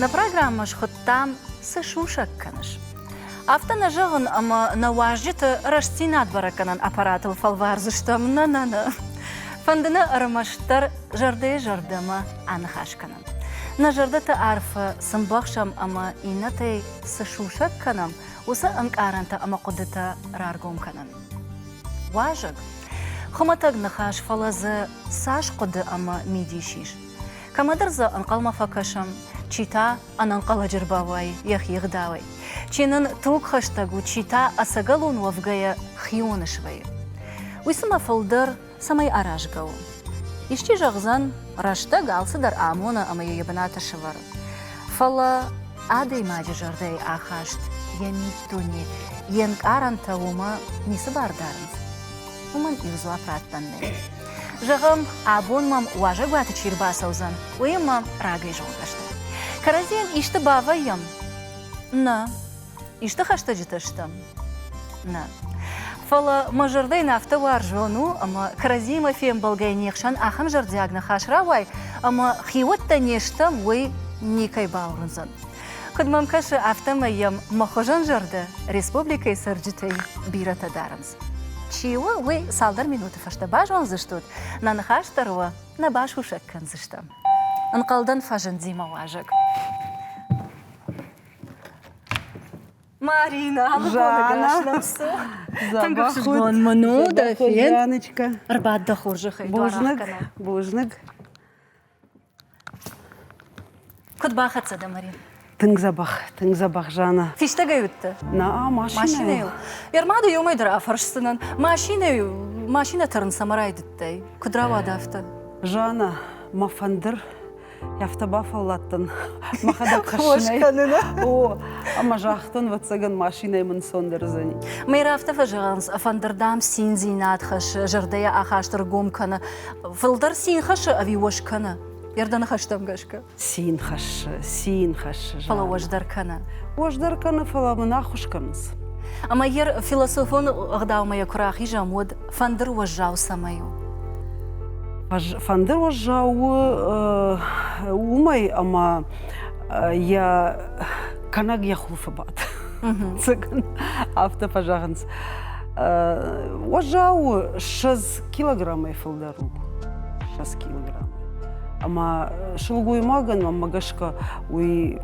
Нӕ программӕ схуыдтам «Цы сусӕг кӕныс?». Афтӕ нӕ зӕгъын, ӕмӕ нӕ уазджыты рӕстдзинад бӕрӕггӕнӕн аппаратыл фӕлвардзыстӕм. Нӕ, нӕ, нӕ. Фӕнды нӕ ӕрмӕстдӕр зӕрдӕйы-зӕрдӕмӕ аныхас кӕнын. Нӕ зӕрдӕты арфӕ сын бахсӕм ӕмӕ иннӕтӕй цы сусӕг кӕнӕм, уыцы ӕнкъарӕнтӕ ӕмӕ хъуыдытӕ раргом кӕнын. Уазӕг хуымӕтӕг ныхас, фӕлӕ дзы цас хъуыды ӕмӕ мидис ис. Кӕмӕдӕр дзы ӕнхъӕлмӕ фӕкӕсӕм, чи та ӕнӕнхъӕлӕджы рбауайы йӕхи ӕгъдауӕй, чи нын тугхӕстӕг у, чи та ӕцӕгӕлон уӕвгӕйӕ хионы свӕййы. Уый цымӕ фылдӕр цӕмӕй аразгӕ у. Исчи зӕгъдзӕн, рӕстӕг алцыдӕр амоны ӕмӕ йӕ йӕ бынаты сӕвӕры. Фӕлӕ адӕймаджы зӕрдӕйы ахаст, йӕ миддуне, йе нкъарӕнтӕ уымӕ ницы бар дарынц. Уымӕн иу дзуапп раттӕн нӕй. Зӕгъӕм, абон мӕм уазӕгуаты чи рбацӕудзӕн, уыимӕ рагӕй зонддӕсты кӕрӕдзийӕн исты бавӕййӕм? Нӕ, Исты хӕстӕджытӕ стӕм? Нӕ. Фӕлӕ мӕ зӕрдӕйӕн афтӕ уарзон у, ӕмӕ кӕрӕдзиимӕ фембӕлгӕйы не хсӕн ахӕм зӕрдиаг ныхас рауай, ӕмӕ хиуӕттӕ не стӕм, уый никӕй бауырндзӕн. Куыд мӕм кӕсы, афтӕмӕй йӕм мӕ хуызӕн зӕрдӕ республикӕйы цӕрджытӕй бирӕтӕ дарынц. Чи у, уый цалдӕр минуты фӕстӕ базондзыстут, нӕ ныхас дӕр уӕ нӕ басусӕг кӕндзыстӕм. Ӕнхъӕлдӕн фӕзынди мӕ уазӕг. Зӕгъӕхон мын у, дӕ фен. Ӕрбад дӕ хорзӕхӕй. Бузныг, бузныг. Куыд бахӕццӕ дӕ, Марин? Тынг дзӕбӕх, тынг дзӕбӕх, Жанна. Фистӕгӕй уыдтӕ? Наа, машинӕйыл. Ермады иумӕ дӕр афӕрсдзынӕн. Машинӕ, машинӕ тӕрын цӕмӕ райдыдтай? Куыд рауад афтӕ? Жанна, мӕ фӕндыр афтӕ бафӕлладтӕн мӕхӕдӕг хӕссынӕй о ӕмӕ загътон ӕвӕццӕгӕн машинӕйы мын сон дӕрдзӕни мӕй афтӕ фӕзӕгъынц фӕндыр дам циндзинад хӕссы зӕрдӕйӕ ахаст ӕргом кӕны фылдӕр цин хӕссы ӕви уӕ скӕны ердӕны хӕстӕм гӕсгӕ цин хӕссы цин хӕссы фӕлӕ уӕздӕр кӕны уӕздӕр кӕны фӕлӕ мын аххуыс кӕнынц ӕмӕ йер философон ӕгъдаумӕ йӕ куы рахизӕм уӕд фӕндыр уӕззау цӕмӕй у? Фӕндыр уӕззау у уымӕй, ӕмӕ йӕ кӕнӕг йӕ хуылфы бад. Цы кӕна, афтӕ фӕзӕгъынц. Уӕззау у 6 килограммӕй фылдӕр у. 6 килограмм. Ӕмӕ сылгоймагӕн мӕмӕ гӕсгӕ уый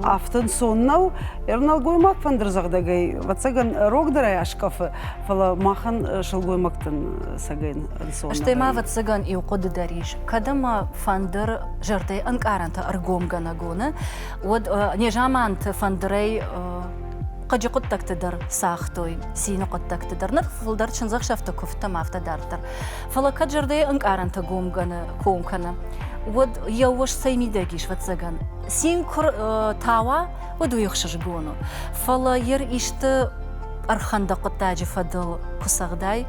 афтӕ ӕнцон нӕу. Ӕрнӕлгоймаг фӕндырдзӕгъдӕгӕй, ӕвӕццӕгӕн, рогдӕрӕй аскъӕфы, фӕлӕ махӕн сылгоймӕгтӕн сӕгӕн ӕнцон. Стӕй ма, ӕвӕццӕгӕн, иу хъуыды дӕр ис, кӕд ӕмӕ фӕндыр зӕрдӕйы ӕнкъарӕнтӕ ӕргомгӕнӕг уыны, уӕд незаманты фӕндырӕй хъыджы хъуыддӕгты дӕр цагътой, цины хъуыддӕгты дӕр, ныр фылдӕр чындзӕхсӕвты куывдтӕм афтӕ дарддӕр. Фӕлӕ кӕд зӕрдӕйы ӕнкъарӕнтӕ гомгӕны ком кӕны, уӕд йӕ ус цӕй мидӕг ис, ӕвӕццӕгӕн, цин куы ртауа, уыд уый ӕхсызгон у. Фӕлӕ йыр исты ӕрхӕндӕг хъуыддаджы фӕдыл куы цӕгъдай,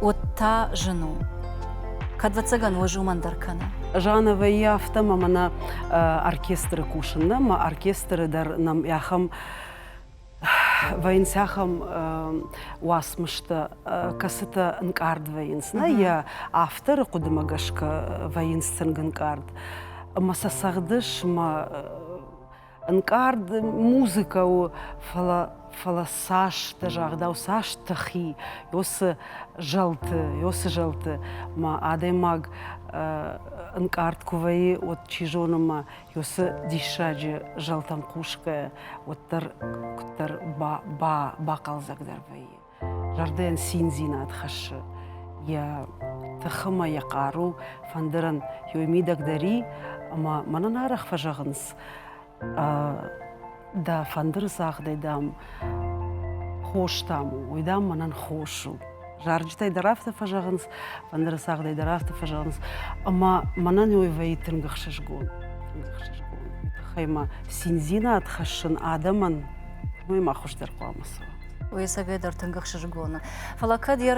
уӕд та зын у. Кӕд вӕццӕгӕн уӕз уымӕн дӕр кӕны. Жанна вӕййы афтӕ, мӕ мӕнӕ оркестры кусын нӕ, мӕ оркестры дӕр нӕм ахӕм вӕййынц ахӕм уацмыстӕ, кӕцытӕ ӕнкъард вӕййынц. Нӕ йӕ авторы хъуыдымӕ гӕсгӕ вӕййынц тынг ӕнкъард. Ӕмӕ сӕ цӕгъдыс мӕ ӕнкъард музыкӕ у, фӕлӕ фӕлӕ цас дӕ загъдау, цас тыхи йосы зӕлты, йосы зӕлты ма адӕймаг ӕнкъард куы вӕййы, уӕд, чи зоны, ма йосы диссаджы зӕлтӕм хъусгӕ уӕддӕр куыддӕр ба бахъӕлдзӕгдӕр вӕййы. зӕрдӕйӕн циндзинад хӕссы йӕ тыхы ӕмӕ йӕ хъару фӕндырӕн йой мидӕгдӕр и ӕмӕ мӕнӕн арӕх фӕзӕгъынц дӕ фӕндыры цагъдӕй дам хос дам у уый дам мӕнӕн хос у зарджытӕй дӕр афтӕ фӕзӕгъынц фӕндыры цагъдӕй дӕр афтӕ фӕзӕгъынц ӕмӕ мӕнӕн уый вӕййы тынг ӕхсызгон тынг ӕхсызгон тыхӕй мӕ циндзинад хӕссын адӕмӕн уый ма хуыздӕр хъуамӕ цӕуа уый совет дӕр тынг ӕхсызгоны. Фӕлӕ кӕд йӕ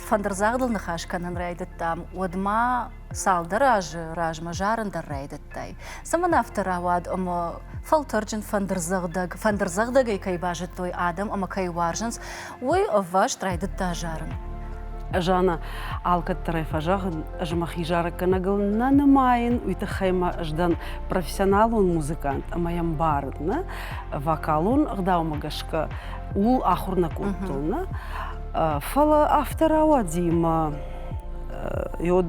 фӕндырдзагъдыл ныхас кӕнын райдыдтам, уӕдмӕ цалдӕр азы размӕ зарын дӕр райдыдтай. Цӕмӕн афтӕ рауад ӕмӕ фӕлтӕрджын фӕндырдзӕгъдӕг, фӕндырдзӕгъдӕгӕй кӕй базыдтой адӕм ӕмӕ кӕй уарзынц, уый ӕвваст райдыдта зарын. Жанна, алкӕддӕрӕй фӕзӕгъын, ӕз мӕхи зарӕггӕнӕгыл нӕ нымайын, уый тыххӕй мӕ ӕз дӕн профессионалон музыкант ӕмӕ йӕ мбарын, нӕ? вокалон ӕгъдаумӕ гӕсгӕ ууыл ахуыр нӕ кодтон нӕ фӕлӕ афтӕ рауадзимӕ йод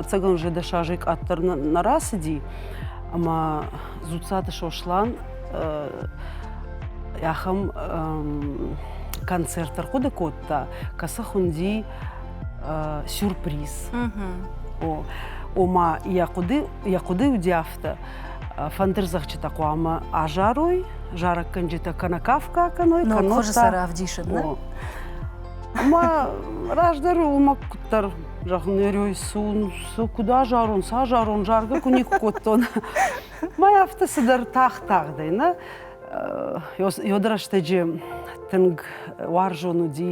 ӕцӕгӕн уже дӕс азӕй къаддӕр нӕ рацыди ӕмӕ дзуццаты сослан ахӕм концерт ӕрхъуыды кодта кӕцы хуынди сюрприз о ома йӕ хъуыды йӕ хъуыды удӕф афтӕ фӕндырдзӕгъдджытӕ хъуамӕ азарой зарӕггӕнджытӕ кӕнӕ кафгӕ кӕной кӕнӕ сӕ равдисыд ӕмӕ раздӕр уымӕ куыддӕр зӕгъын нӕ рейсун сӕ куыд азарон сӕ азарон заргӕ куы никуы кодтон мӕ афтӕ цыдӕр тагъд-тагъдӕй нӕ ёды рӕстӕджы тынг уарзон уыди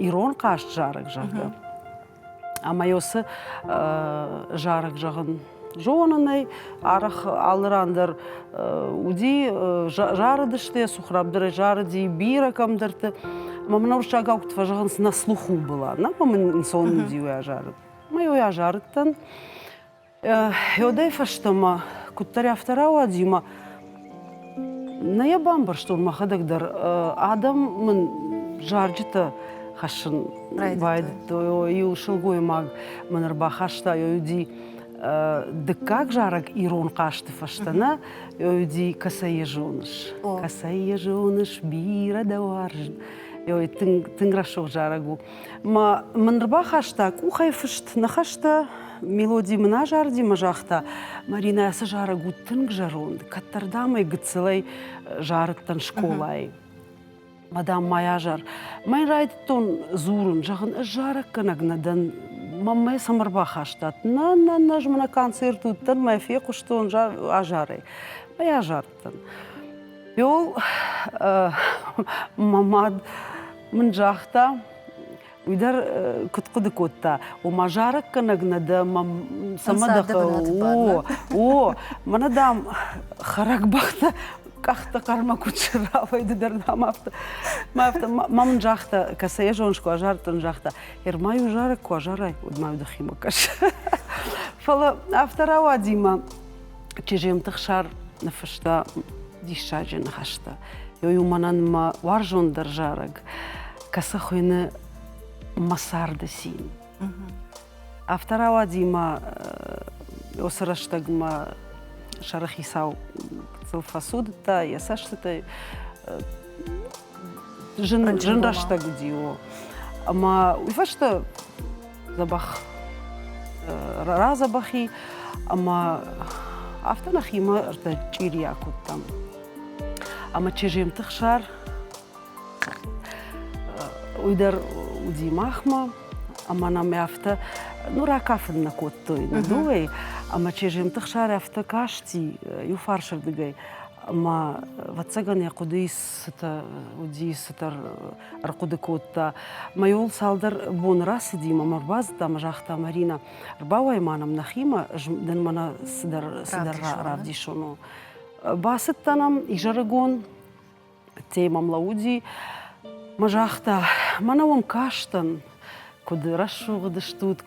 ирон хъазт зарӕг зӕгъгӕ Ӕмӕ йӕ уыцы зарӕг зӕгъын зонын ӕй. Арӕх алы ран дӕр уыди, зарыдысты, Сухрабдырӕй зарыди бирӕ кӕмдӕрты. Ӕмӕ мын уырыссагау куыд фӕзӕгъынц, на слуху была, нӕ мын ӕнцон уыди уый азарын. Ӕмӕ уый азарыдтӕн. Еудӕй фӕстӕмӕ, куддӕр афтӕ рауади ӕмӕ нӕ йӕ бамбӕрстон мӕхӕдӕг дӕр. Адӕм мын зарджытӕ хӕссын байдыдтой. Иу сылгоймаг мын ӕрбахаста Ёюди дыккаг зарӕг ирон хъазты фӕстӕ нӕ Ёюди «Кӕцӕй йӕ зоныс?» «Кӕцӕй йӕ зоныс, бирӕ дӕ уарзын» тынг, тынг рӕсугъд зарӕг у. Ма мын рбахаста къухӕй фыст ныхӕстӕ, мелоди мын азарди мӕ загъта, Маринӕ, ацы зарӕг уыд тынг зӕронд, кӕддӕрдӕмӕй гыццылӕй зарыдтӕн скъолайы. Мадам мӕй азар, мӕн райдыдтон дзурын, зӕгъын, ӕз зарӕггӕнӕг нӕ дӕн, мӕм мӕ сӕм ӕрбахастат. Нӕ, нӕ, нӕ, ӕз мӕ на концерт уыдтӕн, мӕ фехъуыстон азарӕй. Мӕй азар. Йол мӕ мад мын загъта, уый дӕр куыд хъуыды кодта, ома зарӕггӕнӕг нӕ дӕ, цӕмӕ дӕ о, мӕнӕ дам хӕрӕгбӕхтӕ къӕхтӕ хъӕрмӕ куыд срауай, ды дӕр дам афтӕ. Мӕ афтӕ мӕ мын загъта, кӕцӕй зоныс куы азардтон, загъта, Ермай у зарӕг, куы азарай, уӕд ма дӕхимӕ кӕс. Фӕлӕ афтӕ рауади мӕ Чежемты Хсар ныффыста диссаджы ныхӕстӕ. Ёй у мӕнӕн мӕ уарзондӕр зарӕг, кӕцы хуыйны мӕ царды цин. Автор ауадзимӕ осы рӕстӕгмӕ сӕрыхицау сыл фӕцудыдта йӕ цӕстытӕй. Зын, зын рӕстӕг уыди о. Ӕмӕ уый фӕстӕ дзӕбӕх радзӕбӕхи ӕма афтӕ нӕхимӕ ӕртӕчъирийӕ кодтам. Ӕма чызджемты хсар уый дӕр уыди махмӕ, ӕмӕ нӕм афтӕ ну ракафын нӕ кодтой нӕ дыууӕй, ӕмӕ чызджемты хсар афтӕ касти иу фарсырдыгӕй, ӕмӕ ӕвӕццӕгӕн йӕ хъуыдыйы цытӕ уыди цытӕр ӕрхъуыды кодта. Мӕйон цалдӕр боны рацыди мӕм, ӕрбацыд ӕмӕ загъта, Маринӕ, ӕрбауай-ма нӕм нӕхимӕ, дын мӕнӕ цыдӕр, цыдӕр равдисон у. Бацыдтӕн ӕм изӕрыгон, ӕддейы мӕм лӕууыди, мӕ загъта, мӕнӕ уӕм кастӕн, куыд рӕсугъд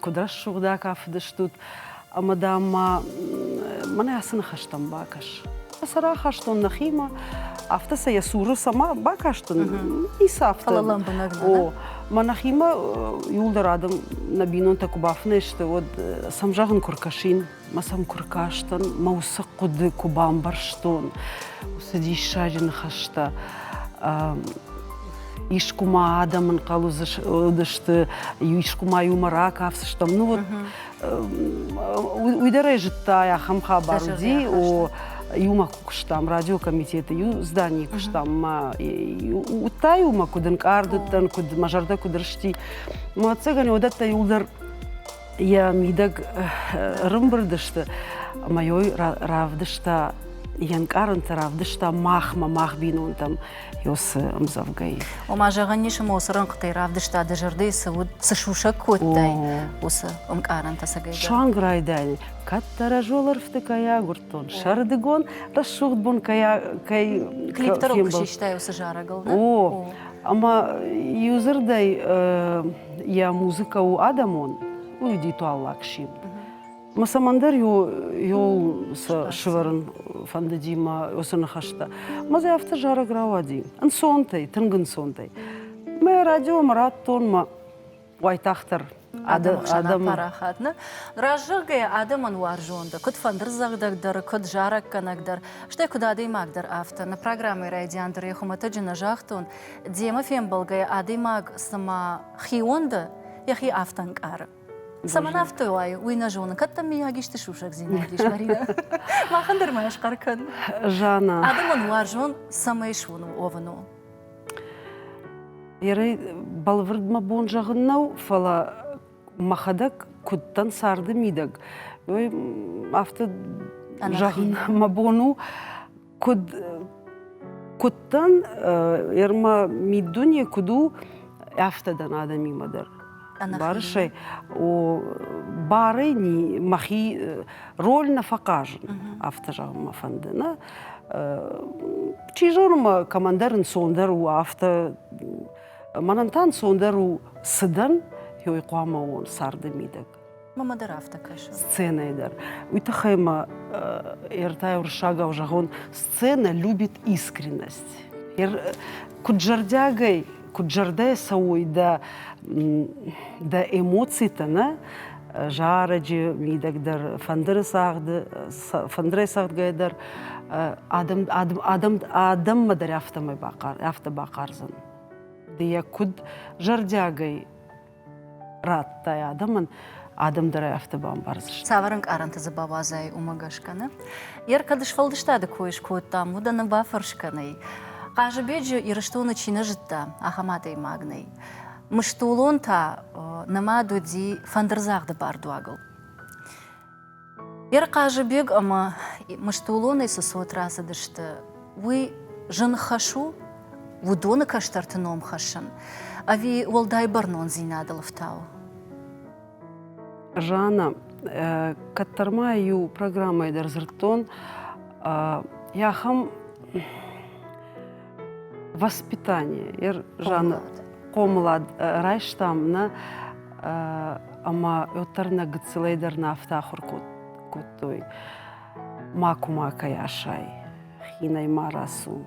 куыд рӕсугъд акафыдыстут, ӕмӕ, дам-ма, мӕнӕ ацы ныхӕстӕм бакӕс. Сӕ рахастон нӕхимӕ, афтӕ сӕ йӕ цуры цӕмӕ бакастын, ницы афтӕ. Фӕлӕ лӕмбынӕг дӕ. О, мӕ нӕхимӕ иууылдӕр адӕм нӕ бинонтӕ куы бафынӕй сты, уӕд сӕм зӕгъын куы ркӕсин, Мӕ сӕм куы ркастӕн, мӕ уыцы хъуыды куы бамбӕрстон, уыцы диссаджы ныхӕстӕ искуы-ма адӕм ӕнхъӕл уыдысты, искуы-ма иумӕ ракафдзыстӕм. Ну вот уый дӕр ӕй зыдта, ахӕм хабар уыди, о, иумӕ куы куыстам, радиокомитеты иу зданийы куыстам, мӕ уыдта-иу мӕ, куыд ӕнкъард уыдтӕн, куыд мӕ зӕрдӕ куыд рысти. Мӕ ӕцӕгӕн уыдӕттӕ иуылдӕр Йӕ мидӕг ӕрымбырд сты ӕмӕ йой равдыста йе нкъарӕнтӕ равдыста махмӕ, мах бинонтӕм ёсы ӕмдзӕвгӕйы. Ома, зӕгъӕн ис, моцы рӕнхъытӕй равдыста дӕ зӕрдӕйы цы уыд, цы сусӕг кодтай, уыцы ӕнкъарӕнтӕ сӕгӕйдӕр. Суанг райдайын, кӕддӕра золӕрфты кӕй агуырд, бынӕттон сӕрдыгон рӕсугъд бон кӕй кӕй клиптор куы систай уыцы зарӕгыл о ӕмӕ иудзырдӕй йӕ музыкӕ у адӕмон у ритуаллаг симд мӕ цӕмӕндӕр иууыл сӕ сывӕрын фӕндыди мӕ уыцы ныхӕстӕ мӕ дзы афтӕ зарӕг рауади ӕнцонтӕй тынг ӕнцонтӕй мӕ радио мӕ радтон мӕ уайтагъддӕр адӕм парахат нӕ раззӕгӕйӕ адӕмӕн уарзондӕр куыд фӕндырдзӕгъдӕгдӕр куыд зарӕггӕнӕгдӕр стӕй куыд адӕймагдӕр афтӕ нӕ программӕйы райдиан дӕр хуымӕтӕджы нӕ загътон демӕ фембӕлгӕйӕ адӕймаг цыма хион дӕ йӕхи афтӕ ӕнкъары цӕмӕн афтӕ уайы уый нӕ зоны кӕд дӕм мийаг исты сусӕгдзинад ис марина махӕн дӕр ма схъӕр кӕн жанна адӕмон уарзон цӕмӕй суын уӕвын у Ерӕй бӕлвырд мӕ бон зӕгъын нӕу, фӕлӕ мӕхӕдӕг куыд дӕн царды мидӕг, ой афтӕ зӕгъын мӕ бон у, куыд куыд дӕн, ӕрмӕ миддуне куыд у, афтӕ дӕн адӕмимӕ дӕр. Барысӕй барӕй ни махи роль нӕ фӕхъазын, афтӕ зӕгъын мӕ фӕнды. Нӕ чи зоны мӕ командӕр ӕнцондӕр у, афтӕ мӕнӕн та ӕнцондӕр у цыдӕн, ёй хъуамӕ уон царды мидӕг. Мама дӕр афтӕ кӕсы. Сценӕйы дӕр. Уый тыххӕй ма ӕртӕ уырыссагау зӕгъон, сценӕ любит искренность. Куыд зӕрдиагӕй, куыд зӕрдӕйы цӕуой дӕ, дӕ эмоцитӕ, нӕ? зарӕджы мидӕг дӕр, фӕндыры цагъды, фӕндырӕй цагъдгӕйӕ дӕр адӕм, адӕм, адӕм, адӕммӕ дӕр афтӕмӕй бахъар, афтӕ бахъардзӕн. Ды йӕ куыд зӕрдиагӕй радтай адӕмӕн, адӕм дӕр афтӕ бамбардзысты. Цавӕр ӕнкъарӕнты дзы бауадзай, уымӕ гӕсгӕ нӕ? Йер кӕд сфӕлдыстады кой скодтам, уыд ӕнӕ бафӕрс кӕнӕй. Хъазыбеджы Ирыстоны чи нӕ зыдта, ахӕм адӕймаг нӕй. Мыстулон та нымад уыди фӕндырдзагъды бардуагыл. Йе Хъазыбег ӕмӕ Мыстулонӕй цы цот рацыдысты, уый зын хӕс у уыдоны кӕстӕрты ном хӕссын ӕви уӕлдай бӕрнондзинадыл ӕфтауы? Жанна, кӕддӕр ма иу программӕйы дӕр дзырдтон, ахӕм воспитание ер жаны хъомылад райстам нӕ ӕмӕ уӕддӕр нӕ гыццылӕй дӕр нӕ афтӕ ахуыр кодтой макума кӕй асай хинӕй ма рацу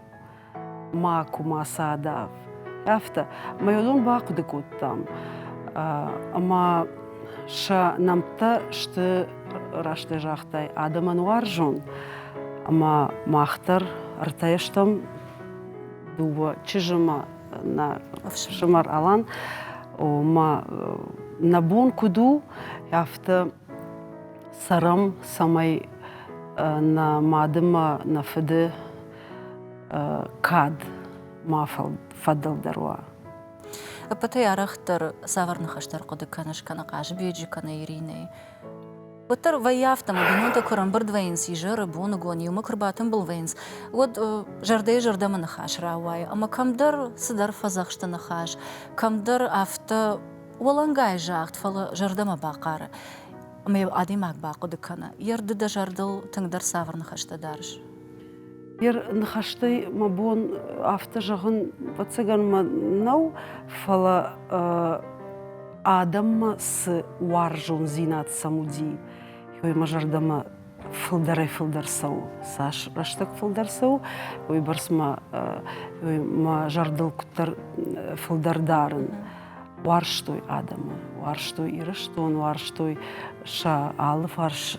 макума садав афтӕ мӕ уыдон бахъуыды кодтам ӕмӕ сӕ нӕмттӕ сты растӕй загътай, адӕмӕн уарзон. Ӕмӕ мах дӕр ӕртӕ стӕм дыууӕ чызджымӕ, нӕ фсымӕр Алан. Омӕ нӕ бон куыд у, афтӕ цӕрӕм, цӕмӕй нӕ мадымӕ, нӕ фыды кад ма фӕдылдӕр уа. Ӕппӕтӕй арӕхдӕр цавӕр ныхӕстӕ ӕрхъуыды кӕныс кӕнӕ Хъазыбеджы, кӕнӕ Иринӕйы? Уӕддӕр вӕййы афтӕ, бинонтӕ куы ӕрӕмбырд вӕййынц изӕры, боныгон, иумӕ куы рбатымбыл вӕййынц, уӕд зӕрдӕйы-зӕрдӕмӕ ныхас рауайы, ӕмӕ кӕмдӕр цыдӕр фӕдзӕхсты ныхас, кӕмдӕр афтӕ уӕлӕнгай загъд, фӕлӕ зӕрдӕмӕ бахъары. Ӕмӕ йыл адӕймаг бахъуыды кӕны. Йӕ рды дӕ зӕрдыл тынгдӕр цавӕр ныхӕстӕ дарыс? Йӕ ныхӕстӕй мӕ бон афтӕ зӕгъын ӕвӕццӕгӕн нӕу, фӕлӕ адӕммӕ цы уарзондзинад сӕм уыди, уый мӕ зӕрдӕмӕ фылдӕрӕй-фылдӕр цӕуы. Цас рӕстӕг фылдӕр цӕуы, уыйбӕрц мӕ мӕ зӕрдыл куыддӕр фылдӕр дарын. Уарзтой адӕмы, уарзтой Ирыстон, уарзтой сӕ алыфарс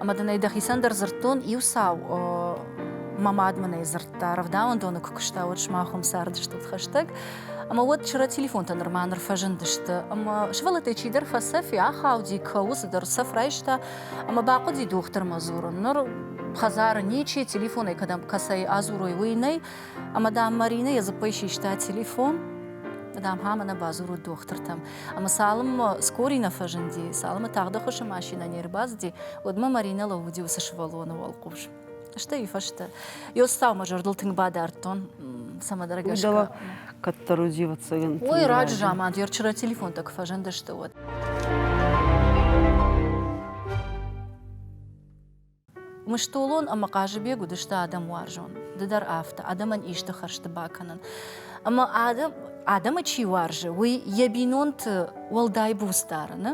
Ӕмӕ дын ӕй дӕхицӕн дӕр дзырдтон иу цау. Мӕ мад мын ӕй дзырдта, рӕвдауӕндоны куы куыста, уӕд сымах уым цардыстут хӕстӕг. Ӕмӕ уӕд чырӕ телефонтӕ нырма ныр фӕзындысты. Ӕмӕ сывӕллӕттӕй чидӕр фӕцӕф и, ахауди, кӕуы, цыдӕр цӕф райста. Ӕмӕ бахъуыди дохтырмӕ дзурын. Ныр хӕдзары ничи, телефонӕй кӕдӕм кӕцӕй адзурой, уый нӕй. Ӕмӕ, дам, Маринӕ йӕ дзыппӕй систа телефон, дам, ха мӕнӕ бадзурут дохтыртӕм. Ӕмӕ цалынмӕ скорий нӕ фӕзынди, цалынмӕ тагъд ӕххуысы машинӕ не рбацыди, уӕдмӕ Маринӕ лӕууыди уыцы сывӕллоны уӕлхъус. Стӕй уыфӕстӕ йӕ устау мӕ зӕрдыл тынг бадардтон, цӕмӕдӕргӕсгӕ. Кӕддӕр удивӕться гын. Ой, раджы заман, ер вчера телефонтӕ куы фӕзындысты, уӕд. Мыстолон ӕмӕ Хъазыбег уыдысты адӕм уарзон. Ды дӕр афтӕ, адӕмӕн исты хӕрзты бакӕнын. Ӕмӕ адӕм, адӕмы чи уарзы, уый йӕ бинонты уӕлдай буц дары, нӕ?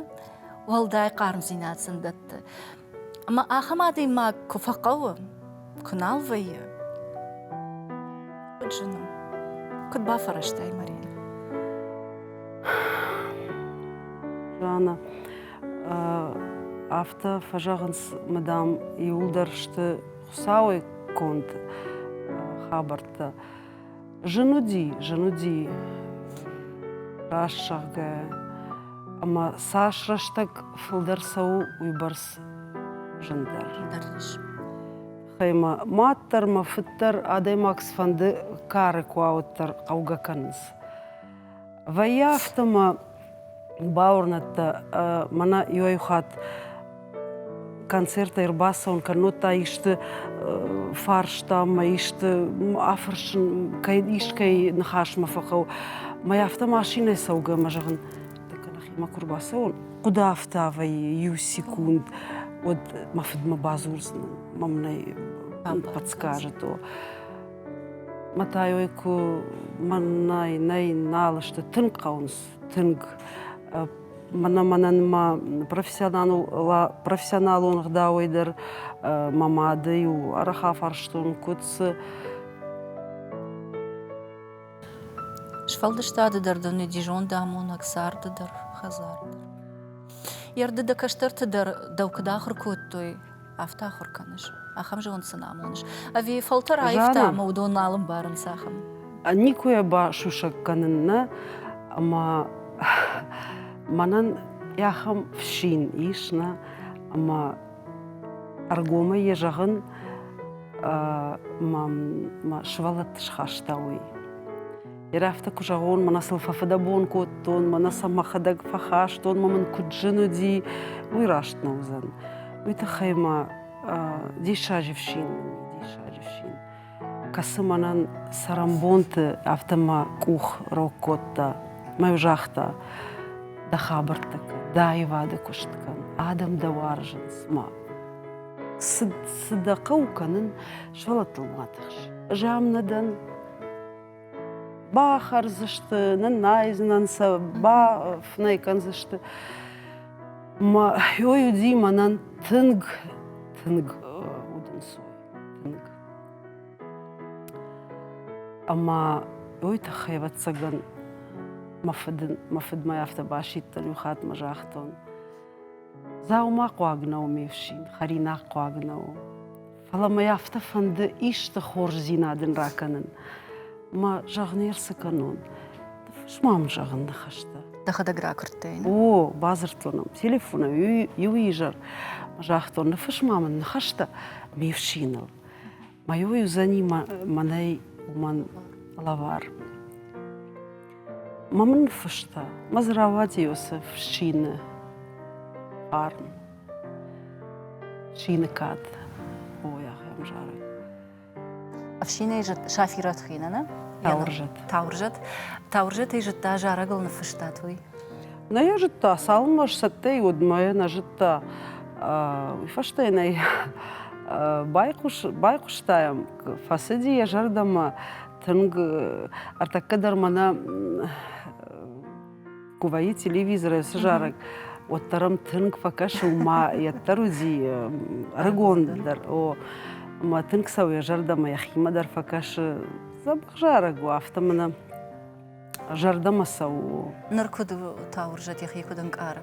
Уӕлдай хъармдзинад сын дӕтты. Ӕмӕ ахӕм адӕймаг куы фӕхъӕуы, куы нал вӕййы, куыд зыны, куыд бафӕрӕзтай, Марина? Жанна, афтӕ фӕзӕгъынц, мыдам, иууылдӕр сты Хуыцауӕй конд хабӕрттӕ. Зын уыди, зын уыди раст зӕгъгӕ, ӕмӕ цас рӕстӕг фылдӕр цӕуы, уыйбӕрц зындӕр. Зындӕр ис. Гъемӕ мад дӕр, мӕ фыд дӕр адӕймаг цыфӕнды кары куы ауыддӕр хъӕугӕ кӕнынц. Вӕййы афтӕ мӕ бауырныдтӕ, мӕнӕ иуӕй хатт концертӕй ӕрбацӕуын кӕннод та исты фарстам мӕ исты афӕрсын, кӕй искӕй ныхасмӕ фӕхъӕуы. Мӕй афтӕ машинӕ цӕугӕ ӕмӕ зӕгъын, так нӕхимӕ куы рбацӕуон, хъуыды афтӕ вӕййы иу секунд, уӕд мӕ фыдмӕ бадзурдзынӕн, мӕм нӕй подскажет. Матайой куы мӕнӕй нӕй нал сты тынг хъӕуынц, тынг мӕнӕ мӕнӕн ма профессионалон гъдауӕй дӕр мӕ мады-иу арӕх афарстон, куыд цы Сфӕлдыстады дӕр дын уыди зондамонӕг, царды дӕр, хӕдзар дӕр. Йе рды дӕ кӕстӕрты дӕр дӕу куыд ахуыр кодтой? афтӕ ахуыр кӕныс, ахӕм зонд сын амоныс. Ӕви фӕлтӕр аивта ӕмӕ уыдон нал ӕмбарынц ахӕм? Никуы басусӕг кӕнын нӕ, ӕмӕ мӕнӕн ахӕм фсин ис, нӕ, ӕмӕ ӕргомӕй йӕ зӕгъын мӕ сывӕллӕтты схаста уый. Йе рӕфтӕ куы зӕгъон, мӕнӕ сыл фӕфыдӕбон кодтон, мӕнӕ сӕ мӕхӕдӕг фӕхастон, мӕ мын куыд зын уыди, уый раст нӕ уыдзӕн. Уый тыххӕй мӕ диссаджы фсин мын диссаджы фсин, кӕцы мӕнӕн цӕрӕнбонты афтӕ мӕ къух рог кодта, мӕ йу загъта, дӕ хабӕрттӕ кӕн, дӕ аивады куыст кӕн, адӕм дӕ уарзынц ма. Цы дӕ хъӕуы кӕнын, сывӕллӕттыл ма тыхс. Ӕз ам нӕ дӕн, бахӕрдзысты, ныннайдзынӕн сӕ, бафынӕй кӕндзысты. Мӕ хой уыди мӕнӕн тынг, тынг удӕнцой, тынг. Ӕмӕ уый тыххӕй, ӕвӕццӕгӕн, мӕ фыд, мӕ фыдмӕ афтӕ басидтӕн иу хатт мӕ загътон, Дзаума хъуаг нӕу ме фсин, хӕринаг хъуаг нӕу. Фӕлӕ мӕ афтӕ фӕнды исты хорздзинад ын ракӕнын. Мӕ зӕгъ не рцы кӕнон. Фыс мӕм зӕгъын ныхӕстӕ. Дӕхӕдӕг ракуырдтай? О, бадзырдтон ӕм телефонӕй иу изӕр. Загътон, ныфыс ма мын ныхӕстӕ ме фсиныл. Мӕ иу уыдзӕни мӕнӕй уымӕн лӕвар. Ма мын ныффыста, мӕ дзы рауади уыцы фсины хъарм. Шиныкад. Ой, ахӕм зары. Ӕфсинӕй зыд Сафират хинӕны? Таурзӕт. Таурзӕт. Таурзӕтӕй зыдта, зарӕгыл ныффыстат, уый? Нӕ йӕ зыдта, цалынмӕ сцӕттӕ и, уӕдмӕ нӕ зыдта. Уый фӕстӕ йын ӕй байхъус, байхъуыстаем. Фӕцыди йӕ зӕрдӕмӕ тынг. Ӕртӕккӕ дӕр мӕнӕ Куы вӕййы телевизорӕй цы зарӕг, уӕддӕр ӕм тынг фӕкӕсы, ма йӕддӕр уыди ӕрыгон дӕр, о, ӕмӕ тынг цӕуы йӕ зӕрдӕмӕ, йӕхимӕ дӕр фӕкӕсы. Дзӕбӕх зарӕг у, афтӕ мӕнӕ зӕрдӕмӕ цӕуы. Ныр куыд у Тауырзӕт йӕхи куыд ӕнкъары?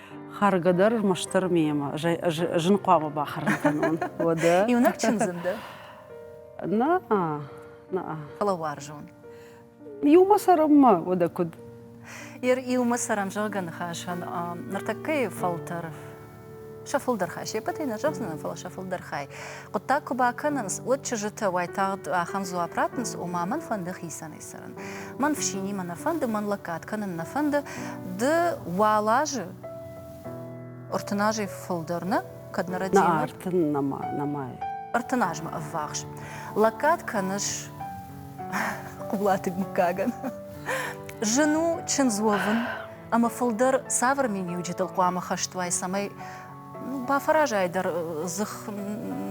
Хӕргӕ дӕр мастыр мемӕ зын хъуамӕ бахӕрын кӕнон. Уӕдӕ? Иунӕг чындзын дӕ? Наа, наа. Фӕлӕ уарзон. Иумӕ цӕрӕм-ма, уӕдӕ куыд? Ер иумӕ цӕрӕм, зӕгъгӕ ныхасӕн ныртӕккӕйы фӕлтӕр сӕ фылдӕр хай се ппӕтӕй нӕ зӕгъдзынӕн, фӕлӕ сӕ фылдӕр хай. Хъуыддаг куы бакӕнынц, уӕд чызджытӕ уайтагъд ахӕм дзуапп ратынц, ома мӕн фӕнды хицӕн ӕрцӕрын. Мӕн фсинимӕ нӕ фӕнды, мӕн лӕггад кӕнын нӕ фӕнды, ды уал азы ӕртын азӕй фылдӕр нӕ, кӕд нӕ рӕдийы. Нӕ ӕртын нӕма, нӕмайы. Ӕртын азмӕ ӕввахс лӕггад кӕныс Хъулаты мыггагӕн. Зын у чындз уӕвын ӕмӕ фылдӕр цавӕр миниуджытыл хъуамӕ хӕст уай, цӕмӕй бафӕразай дӕ дзых,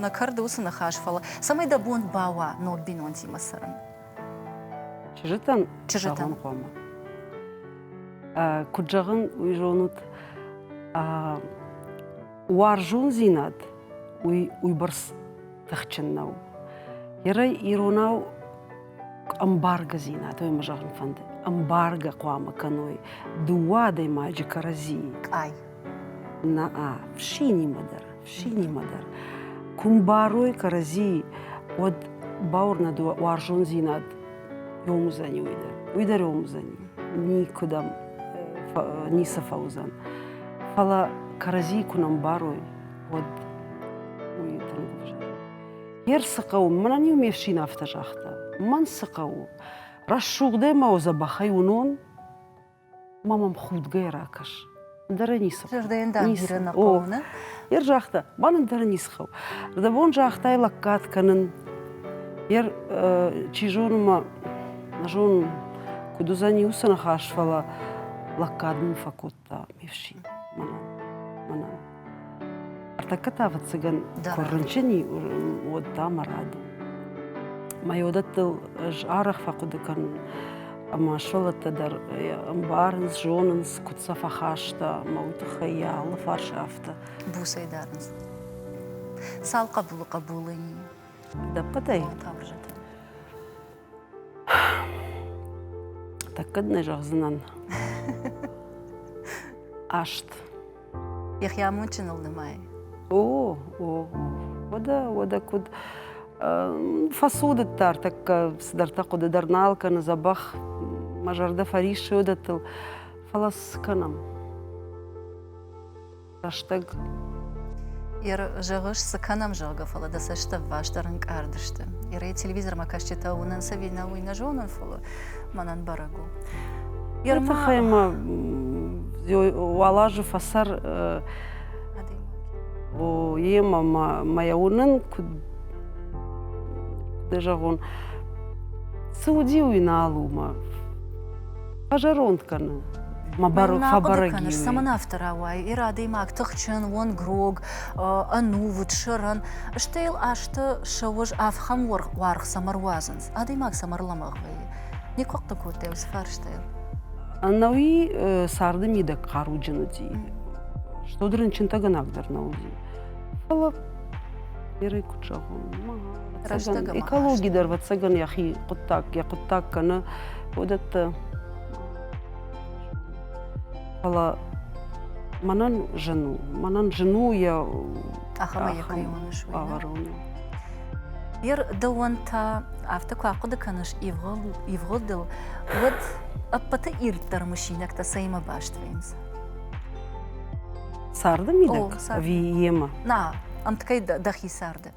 нӕ кӕрды уыцы ныхас, фӕлӕ цӕмӕй дӕ бон бауа ног бинонтимӕ цӕрын. Чызджытӕн, чызджытӕн хъуамӕ. Куыд зӕгъын, уый зонут, уарзондзинад уый уыйбӕрц тыхджын нӕу. Ерӕй иронау ӕмбаргӕдзинад, ой мӕ зӕгъын фӕнды, ӕмбаргӕ хъуамӕ кӕной дыууӕ адӕймаджы кӕрӕдзийы. Къай. Наа, фшинимӕ дӕр, фшинимӕ дӕр. Кумбарой кӕрӕдзи уӕд бауырнӕд уарзондзинад ромдзӕни уый дӕр. Уый дӕр ромдзӕни. Никуыдӕм ницы фӕуыдзӕн. Фӕлӕ кӕрӕдзи куы нӕ мбарой, уӕд уый тынгдӕр. Йе рцы хъӕуы, мӕнӕн-иу ме фсин афтӕ загъта, мӕн цы хъӕуы, рӕсугъдӕй мӕ дзӕбӕхӕй уынон, ма мӕм худгӕ ракӕс ӕндӕр ӕй ницы зӕрдӕйӕн дӕр бирӕ нӕ хъӕуы йер загъта мӕн ӕндӕр ницы хъӕуы зӕрдӕ бон загътай лӕггад кӕнын йер чи зоны мӕ нӕ зонын куыд уыдзӕни уыцы ныхас фӕлӕ лӕггад мын фӕкодта ме фсин мӕнӕн мӕнӕн Ӕртӕккӕ та, ӕвӕццӕгӕн, куы рынчын и, уӕд та мӕ рады. Мӕ уыдӕттыл ӕз арӕх фӕхъуыды кӕнын, ӕмӕ сывӕллӕттӕ дӕр ӕмбарынц, зонынц, куыд сӕ фӕхаста. Мӕ уый тыххӕй йӕ алы фарс афтӕ. Буцӕй дарынц. Цал хъӕбулы хъӕбулы и? Дӕппӕтӕй? Таврзӕтӕ. Так кӕд нӕ зӕгъдзынӕн? Аст. Йӕхи амондджыныл нымайы. О, о, о. Уӕдӕ, уӕдӕ куыд фӕцудыдта ӕртӕккӕ цыдӕртӕ хъуыды дӕр нал кӕны дзӕбӕх, мӕ зӕрдӕ фӕриссы уыдӕттыл, фӕлӕ цы кӕнӕм? рӕстӕг. Ир, зӕгъыс, цы кӕнӕм, зӕгъгӕ, фӕлӕ дӕ цӕсты ӕввастдӕр ӕнкъард сты. Ирӕй телевизормӕ кӕсджытӕ уынын ӕви нӕ, уый нӕ зонын, фӕлӕ мӕнӕн бӕрӕг у. Уый тыххӕй мӕ уал азы фӕсӕр иемӕ мӕ уынын, куыд куыд зӕгъон, цы уыди уый нал у мӕ Фӕзӕронд кӕны. Фӕбӕрӕг и. Цӕмӕн афтӕ рауайы? Ир адӕймаг тыхджын, уӕнгрог, ӕнувыд, сӕрӕн, стӕй йыл азты сӕ уӕз ӕфхӕм уаргъ цӕмӕ руадзынц? Адӕймаг цӕмӕ рлӕмӕгъ вӕййы? Никуы хъхъы кодтай уыцы фарстайыл? Ӕнӕуи царды мидӕг хъаруджын уыди. Стод рынчынтӕгӕнӕг дӕр нӕ уыди. Фӕлӕ Ирӕй куыд зӕгъон? экологи дӕр вӕццӕгӕн йӕхи хъуыддаг йӕ хъуыддаг кӕны уыдӕттӕ фӕлӕ мӕнӕн зын у мӕнӕн зын у йӕ бавӕрын Ер дӕуӕн та афтӕ куы ахъуыды кӕныс ивгъуыдыл, уӕд ӕппӕты ирддӕр мысинӕгтӕ цӕимӕ баст вӕййынц? Царды мидӕг ӕви йемӕ? Нӕ, ӕмткӕй дӕхи царды.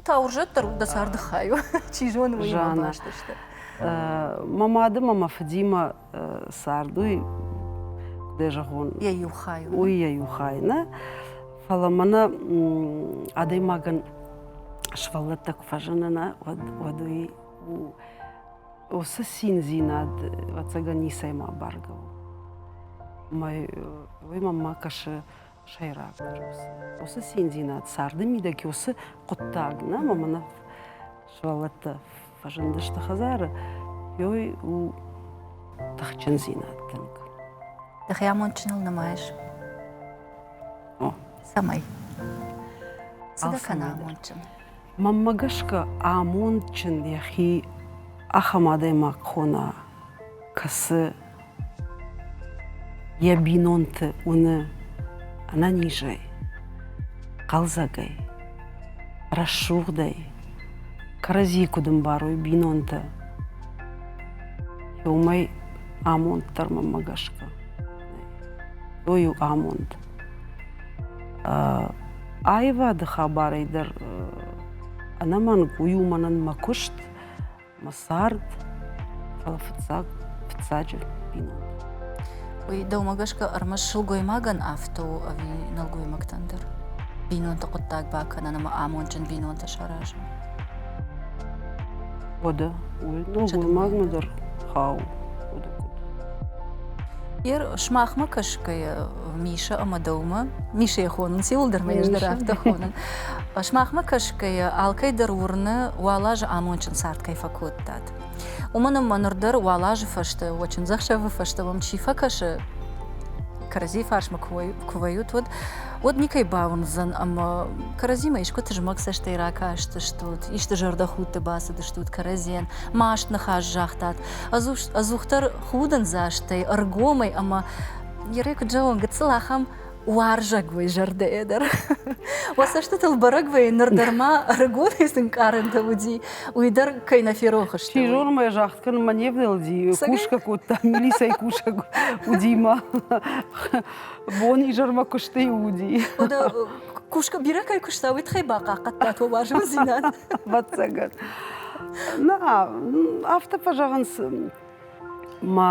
та урзӕттӕ дӕ царды хайу чи зоны уый баст сты мӕ мады мӕ мӕ фыдимӕ цард уый куыд зӕгъон йӕ иу хай уый йӕ иу хай нӕ фӕлӕ мӕнӕ адӕймагӕн сывӕллӕттӕ куы фӕзыны нӕ уӕд уӕд уый уыцы циндзинад ӕцӕгӕн ницӕй ма бӕргӕ у мӕ уый мӕмӕ кӕсы сӕйраг усы. Уыцы циндзинад царды мидӕг уыцы хъуыддаг нӕм ӕмӕ нӕ сывӕллӕттӕ фӕзындысты хӕдзары, ёй у тыхджындзинад тынг. Дӕхи амондджыныл нымайыс? О. Цӕмӕй? Цыдӕр кӕна амондджын? Мӕнмӕ гӕсгӕ амондджын йӕхи ахӕм адӕймаг хона, кӕцы Йӕ бинонты уыны ӕнӕнизӕй, хъӕлдзӕгӕй, рӕсугъдӕй, кӕрӕдзи куыд ӕмбарой бинонтӕ. Уымӕй амонд дӕр мӕнмӕ гӕсгӕ той у амонд. Аивады хабарӕй дӕр ӕнӕмӕнг уый у мӕнӕн мӕ куыст. мӕ цард, фӕлӕ фыццаг, фыццаджы бинонтӕ. Уый дӕумӕ гӕсгӕ ӕрмӕст сылгоймагӕн афтӕ у ӕви нӕлгоймӕгтӕн дӕр? Бинонты хъуыддаг бакӕнын ӕмӕ амондджын бинонтӕ саразын. Уӕдӕ уый нӕлгоймагмӕ дӕр хауы. Уӕдӕ куыд? Йе сымахмӕ кӕсгӕйӕ, Миша ӕмӕ дӕумӕ. Мишӕйы хонынц иуылдӕр мӕ ӕз дӕр афтӕ хонын. Сымахмӕ кӕсгӕйӕ, алкӕй дӕр уырны, уал азы амондджын цард кӕй фӕкодтат. Уымӕн ӕмӕ ныр дӕр уал азы фӕстӕ, уӕ чындзӕхсӕвы фӕстӕ мӕм чи фӕкӕсы, кӕрӕдзийы фарсмӕ куы вӕййут, уӕд уӕд никӕй бауындзӕн ӕмӕ кӕрӕдзимӕ искуы тызмӕг цӕстӕй ракастыстут, исты зӕрдӕхудты бацыдыстут кӕрӕдзийӕн, маст ныхас загътат, ӕдзухдӕр худындзастӕй, ӕргомӕй ӕмӕ Ныры куыд зӕгъон, гыццыл ахӕм уарзаг уой зӕрдӕйӕ дӕр. Уӕ цӕстытыл бӕрӕг вӕййы, ныр дӕр ма ӕрыгонӕй сын къарӕнтӕ уыди, уый дӕр кӕй нӕ ферох сты. Чизормӕ загъд кӕнын мӕ не внӕлди, кусгӕ кодта, милицӕйы кусӕг уыди мӕ бон-изӕрмӕ куысты уыди. Кусгӕ бирӕ кӕй куыста, уый тыххӕй бахъахъхъӕдтат уӕ уарзондзинад? Ӕвӕццӕгӕн. Нӕ, афтӕ фӕзӕгъынц, мӕ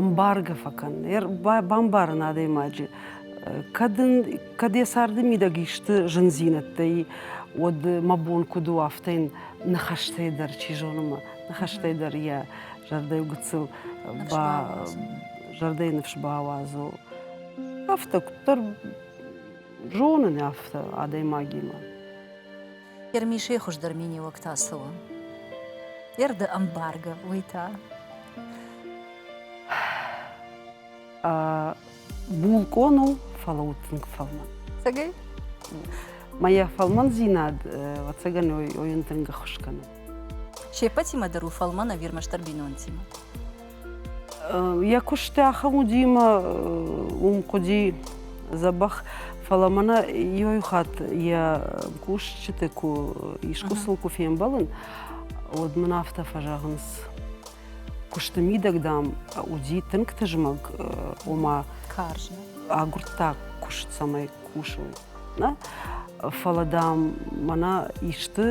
Ӕмбаргӕ фӕкӕн, бамбарын адӕймаджы, кӕд, ын, кӕд йӕ царды мидӕг исты зындзинӕдтӕй, уӕд мӕ бон куыд у афтӕ йын ныхӕстӕй дӕр, чи зоны ма, ныхӕстӕй дӕр йӕ зӕрдӕйы гыццыл ба, зӕрдӕйы ныфс бауадзо. Афтӕ куыддӕр зонын афтӕ адӕймагимӕ. Ермишей хуыздӕр миниуӕг та цы у? Йе рды ӕмбаргӕ уый та? булкъон у, фӕлӕ у тынг фӕлмӕн. Цӕгӕй? Моя фӕлмӕндзинад, ӕвӕццӕгӕн, ойын тынг ӕххуыс кӕны. Се ппӕтимӕ дӕр у фӕлмӕн ӕвирмӕстдӕр бинонтимӕ. Йӕ куысты ахӕм уыди мӕ уым хъуыди дзӕбӕх, фӕлӕ мӕнӕ иу хатт йӕ кусджыты куы искусыл куы фембӕлын, уӕд мын афтӕ фӕзӕгъынц, куысты мидӕг, дам, уыди тынг тызмӕг, ома агуырдта куыст, цӕмӕй кусын. Нӕ? Фӕлӕ, дам, мӕнӕ исты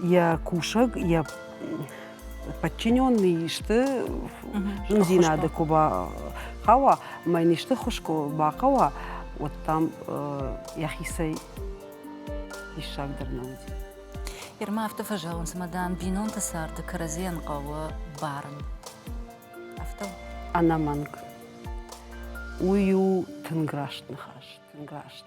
йӕ кусӕг, йӕ подчиненные исты зындзинады куы бахауа ӕмӕ йын исты хуыз куы бахъӕуа, уӕд там йӕхицӕй диссагдӕр нӕ уыди. Ермӕ афтӕ фӕзӕгъынц, ӕмӕ дам бинонты царды кӕрӕдзийӕн хъӕуы барын. Афтӕ? Ӕнӕмӕнг. Уый у тынг раст ныхас, тынг раст.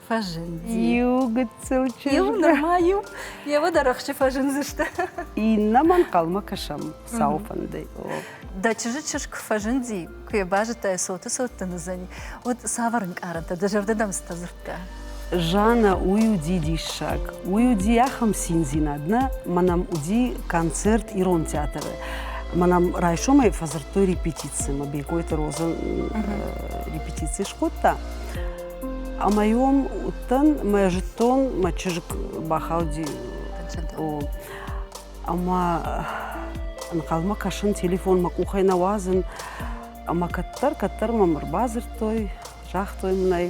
фӕзынди. Иу гыццыл чызг. Иу нырма иу. Евы дӕр ӕхсчы фӕзындзысты. Иннӕмӕ ӕнхъӕлмӕ кӕсӕм сау фӕндӕй. Дӕ чызджы чызг фӕзынди, куы йӕ базыдтай, цоты-цоттын уыдзӕни, уӕд цавӕр ӕнкъарӕнтӕ дӕ зӕрдӕдӕмцтӕ дзырдта? Жаннӕ, уый уыди диссаг, уый уыди ахӕм циндзинад, нӕ ма нӕм уыди концерт ирон театры. Ма нӕм райсомӕй фӕдзырдтой репетици, ма Бекойты Роза репетици скодта. Ӕмӕ-иу уыдтӕн мӕ зыдтон мӕ чызг бахауди ӕмӕ ӕнхъӕлмӕ кӕсын, телефон мӕ къухӕй нӕ уадзын. Ӕмӕ кӕддӕр, кӕддӕр мӕм ӕрбадзырдтой, загътой мынӕй: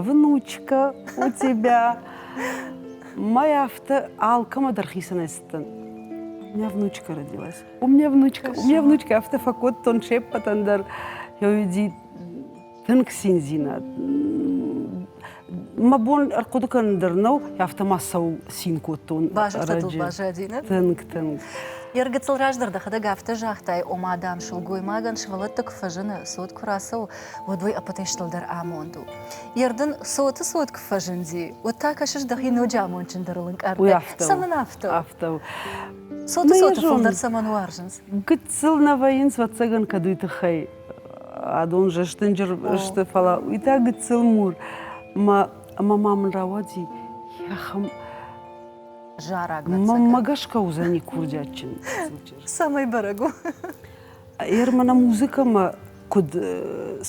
«Внучка у тебя!» Мӕй афтӕ алкӕмӕ дӕр хицӕнӕй цыдтӕн. У меня внучка родилась. У меня внучка, у меня внучка. Афтӕ фӕкодтон се ппӕтӕн дӕр. Я уйди тынг циндзинад мӕ бон ӕрхъуыды кӕнын дӕр нӕу афтӕ ма цӕуыл цин кодтон базӕдтатыл баззадинаг тынг тынг Йе ргыцыл раздӕр дӕхӕдӕг афтӕ загътай, ома дам сылгоймагӕн сывӕллӕтты куы фӕзыны, цот куы рацӕуы, уӕд уый ӕппӕтӕй дӕр амонд у. Йе рдын цоты цот куы фӕзынди, уӕд та кӕсыс дӕхи ноджы амондджындӕрыл ӕнкъардӕй. Цӕмӕн афтӕ? Афтӕ у. Цоты цоты фылдӕр цӕмӕн уарзынц? Гыццыл нӕ вӕййынц, ӕвӕццӕгӕн, кӕд уый тыххӕй адон зӕстынджыр сты, фӕлӕ уый та гыццыл мур. Ӕмӕ ма мын рауади йӕхӕм зараг. Маммӕ гӕсгӕ уыдзӕни курдиатджын Самый бӕрӕг у. Ермана музыкӕмӕ куыд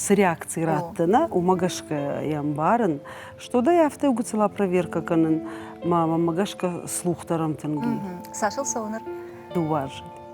цы реакци раттына, уымӕ гӕсгӕ йӕ ӕмбарын, что да афтӕ гуыцыла проверка кӕнын мӕ маммӕ гӕсгӕ слух дӕр ӕмтынг и. Сашыл цӕуы ныр? Дыууӕ азы.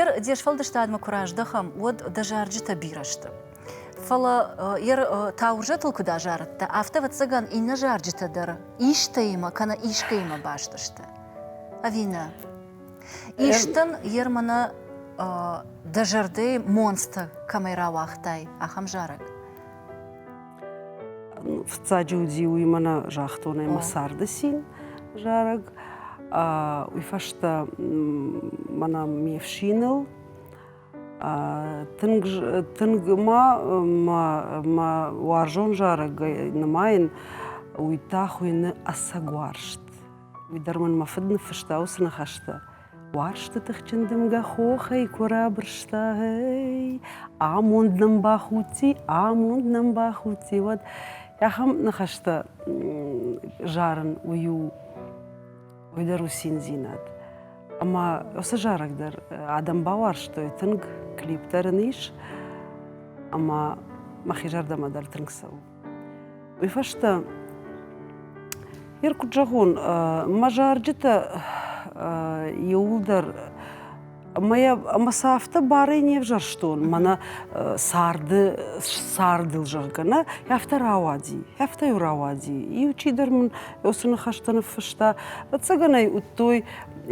Ер де сфӕлдыстадмӕ куы раздӕхӕм, уӕд дӕ зарджытӕ бирӕ сты. Фӕлӕ ер таурзӕтыл куыд азарыдтӕ, афтӕ, ӕвӕццӕгӕн, иннӕ зарджытӕ дӕр истӕимӕ кӕнӕ искӕимӕ баст сты. Ӕви нӕ? Истӕн ер мӕнӕ дӕ зӕрдӕйы монцтӕ кӕмӕй рауагътай, ахӕм зарӕг? Фыццаджы уыди уый мӕнӕ загътон ӕмӕ царды цин зарӕг. Уый фӕстӕ мӕнӕ ме фсиныл тынг тынг ма мӕ уарзон зарӕгӕй нымайын уый та хуыйны ӕцӕг уарзт. Уый дӕр мын мӕ фыд ныффыста уыцы ныхӕстӕ. Уарзты тыхджын дымгӕ хохӕй куы рабырста, ей, амонд нӕм бахудти, амонд нӕм бахудти, уӕд ахӕм ныхӕстӕ зарын уый у уый дӕр у циндзинад. Ӕмӕ уыцы зарӕг дӕр адӕм бауарзтой, тынг клип дӕр ын ис, ӕмӕ мӕхи зӕрдӕмӕ дӕр тынг цӕуы. Уый фӕстӕ Ер куыд зӕгъон, мӕ зарджытӕ иууылдӕр ӕмӕ сӕ афтӕ барӕй не взӕрстон, мӕнӕ царды цардыл, зӕгъгӕ, нӕ, афтӕ рауади, афтӕ-иу рауади. Иу чидӕр мын уыцы ныхӕстӕ ныффыста. Ӕцӕгӕн ӕй уыдтой,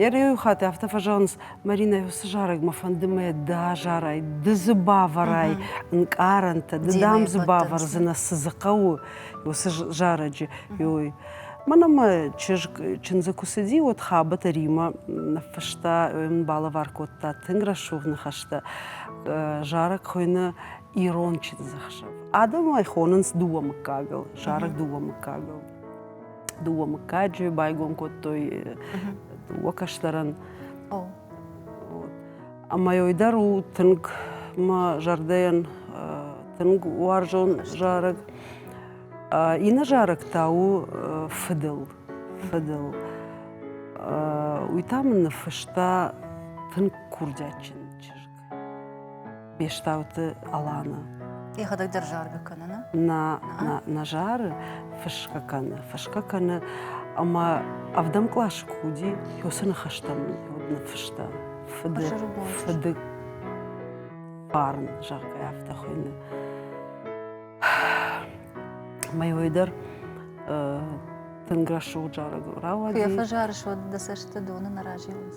ӕрйӕ хатт афтӕ фӕзӕгъынц, Маринӕ, уыцы зарӕгмӕ фӕнды мӕ дӕ зарай, ды дзы бавӕрай ӕнкъарӕнтӕ, ды дам дзы бавӕрдзынӕ, цы дзы хъӕуы уыцы зарӕджы. Ой. Мӕнӕ мӕ чызг чындзы куы цыди, уӕд хабӕтӕ Римӕ ныффыста, балӕвар кодта тынг рӕсугъд ныхӕстӕ. Зарӕг хуыйны Ирон чындзӕхсӕв. Адӕм ӕй хонынц дыууӕ мыггагыл, зарӕг дыууӕ мыггагыл. дыууӕ мыггаджы байгом кодтой дыууӕ кӕстӕрӕн. Ӕмӕ ой дӕр у тынг мӕ зӕрдӕйӕн тынг уарзон зарӕг. Иннӕ зарӕг та у фыдыл. Фыдыл. Уый та мын ныффыста тынг курдиатджын чызг. Бестауты Аланы. Йӕхӕдӕг дӕр заргӕ кӕны, нӕ? Нӕ, нӕ, нӕ зары, фысгӕ кӕны, фысгӕ кӕны, ӕмӕ ӕвдӕм къласы куы уыди, уыцы ныхӕстӕм ныффыста. Фыды, фыды хъарм, зӕгъгӕ, афтӕ хуыйны. Ӕмӕ уый дӕр тынг рӕсугъд зарӕг рауади. Куы йӕ фӕзары суад, дӕ цӕсты доны нӕ разилынц.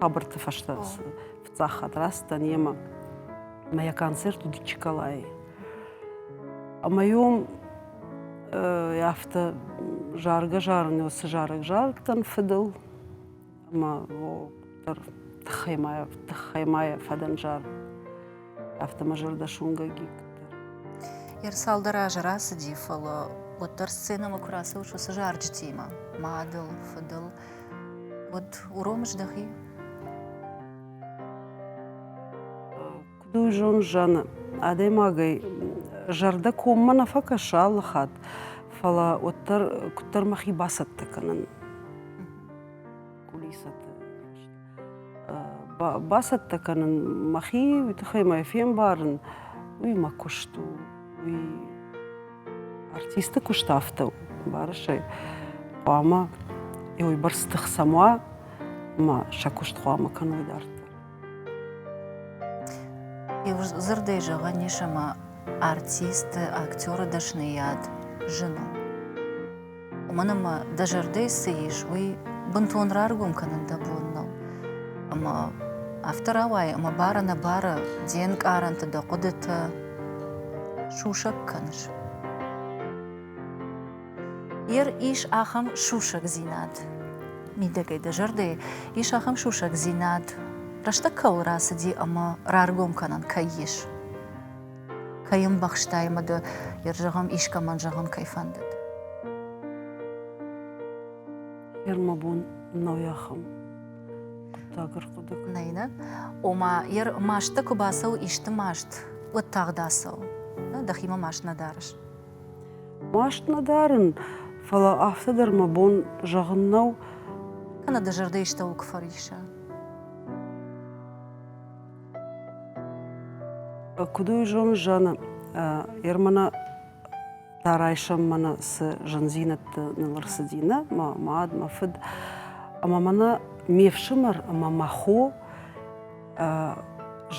хабарты фӕстӕ фыццагхатт рацыдтӕн йемӕ мӕ йӕ концерт уыд Чиколайы ӕмӕ йом афтӕ заргӕ-зарын цы зарӕг зарыдтӕн фыдыл ӕмӕ дӕр тыххӕй ма тыххӕй ма йӕ фӕдӕн зар автомажордошунгӕ гигтӕ. Йе рцалдӕр азы рацыди, фӕлӕ уӕддӕр сценӕмӕ куы рацӕуыс уыцы зарджытимӕ, мадыл, фыдыл, уӕд уромыс дӕхи? Куыд у зон зӕны? Адӕймагӕй зӕрдӕ коммӕ нӕ фӕкӕсы алы хатт, фӕлӕ уӕддӕр куыддӕр мӕхи бацӕттӕ кӕнын кулисӕты. бацӕттӕ кӕнын мӕхи, уый тыххӕй мӕ фембарын, уый мӕ куыст у, уый артисты куыст афтӕ у, барысӕй хъуамӕ йӕ уыйбӕрц тых сӕм уа, ӕмӕ сӕ куыст хъуамӕ кӕной дарддӕр. Иу дзырдӕй зӕгъӕн ис ӕмӕ артисты, актеры дӕсныйад зын у. уымӕн ӕмӕ дӕ зӕрдӕйы цы ис, уый бынтон раргом кӕнын дӕ бон нӕу. Ӕмӕ афтӕ рауайы, ӕмӕ бары-нӕбары де нкъарӕнты дӕ хъуыдытӕ сусӕг кӕныс. Ер ис ахӕм сусӕгдзинад мидӕгӕй дӕ зӕрдӕйы, ис ахӕм сусӕгдзинад, рӕстӕг кӕуыл рацыди ӕмӕ раргом кӕнӕн кӕй ис. кӕй ӕмбӕхстай мӕ ды, йӕ зӕгъӕм, искӕмӕн зӕгъын кӕй фӕндыд. Йӕ мӕ бон нӕу ахӕм хъуыддаг ӕрхъуыды кӕнын. Нӕй нӕ? Ома, йӕ мастӕ куы бацӕуы исты маст, уӕд тагъд ацӕуы. Дӕхимӕ маст нӕ дарыс? Маст нӕ дарын, фӕлӕ афтӕ дӕр мӕ бон зӕгъын нӕу. Кӕнӕ дӕ зӕрдӕ истӕуыл куы фӕрисса. Куыд уый зоны, зӕгъы, Ермана та райсӕм мӕнӕ цы зындзинӕдты ныл ӕрцыди нӕ, мӕ мад, мӕ фыд, ӕмӕ мӕнӕ ме фсымӕр ӕмӕ мӕ хо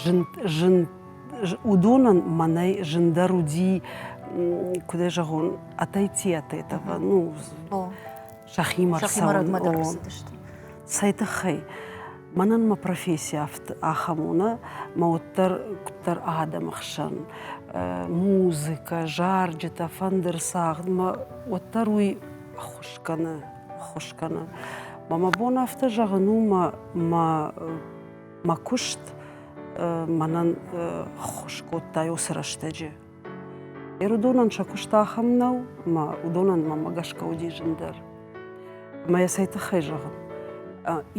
зын, зын, уыдонӕн мӕнӕй зындӕр уыди, куыд ӕй зӕгъон, атайтиатетова, ну, сӕхимӕ рцӕуын. Цӕй тыххӕй? Мӕнӕн мӕ професси ахӕм у, нӕ мӕ уӕддӕр куыддӕр адӕмы хсӕн музыкӕ, зарджытӕ, фӕндыр цагъд мӕ уӕддӕр уый ӕххуыс кӕны, ӕххуыс кӕны. Ӕмӕ мӕ бон афтӕ зӕгъын у, мӕ мӕ мӕ куыст мӕнӕн ӕххуыс кодта уыцы рӕстӕджы. Ирыдонӕн сӕ куыст ахӕм нӕу, ӕмӕ уыдонӕн мӕнмӕ гӕсгӕ уыди зындӕр. Ӕмӕ йӕ цӕй тыххӕй зӕгъын?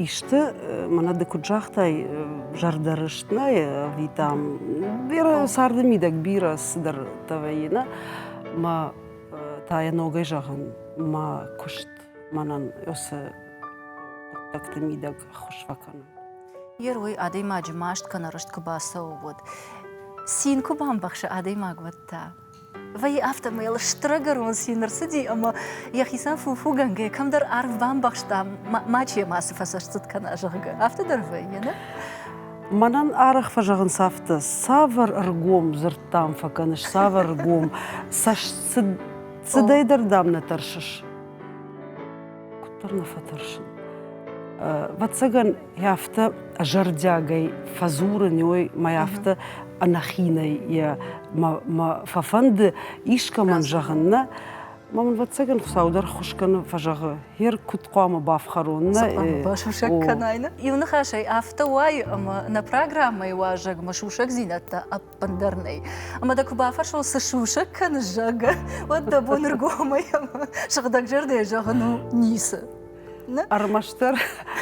Исты, мӕнӕ ды куыд загътай, зӕрдӕрыст нӕй ӕви там бирӕ царды мидӕг бирӕ цыдӕртӕ вӕййы, нӕ? Ӕмӕ та йӕ ногӕй зӕгъын, мӕ куыст мӕнӕн йӕ цы хъуыддӕгты мидӕг ӕххуыс фӕкӕны. Ер уый адӕймаджы маст кӕнӕ рыст куы бацӕуы, уӕд цин куы бамбӕхсы адӕймаг, уӕд та? Вӕййы афтӕмӕй стырӕгӕрон цин ӕрцыди ӕмӕ йӕхицӕн фуфугӕнгӕйӕ кӕмдӕр арв бамбӕхста, мачи йӕм ацы фӕсӕрццыд кӕна, зӕгъгӕ. Афтӕ дӕр вӕййы, нӕ? Мӕнӕн арӕх фӕзӕгъынц афтӕ, цавӕр ӕргом дзырдтӕм фӕкӕныс, цавӕр ӕргом цӕстсыдӕй дӕр дӕм нӕ тӕрсыс? куыддӕр нӕ фӕтӕрсын. Вӕццӕгӕн, йӕ афтӕ зӕрдиагӕй фӕдзурын, ой, мӕ афтӕ ӕнӕхинӕй йӕ мӕ фӕфӕнды искӕмӕн зӕгъын, нӕ. Мӕ мын вӕццӕгӕн Хуыцау дӕр хуъыс кӕны, фӕзӕгъы, гьер куыд хъуамӕ бафхӕрон, нӕ? Басусӕг кӕнай, нӕ? Иу ныхасӕй, афтӕ уайы, ӕмӕ нӕ программӕйы уазӕгмӕ сусӕгдзинӕдтӕ ӕндӕр нӕй. Ӕмӕ дӕ куы бафӕрсон, цы сусӕг кӕны, зӕгъгӕ, уӕд дӕ бон ӕргомӕй ӕмӕ сыгъдӕг зӕрдӕйӕ зӕгъын у ницы. Ӕрмӕстдӕр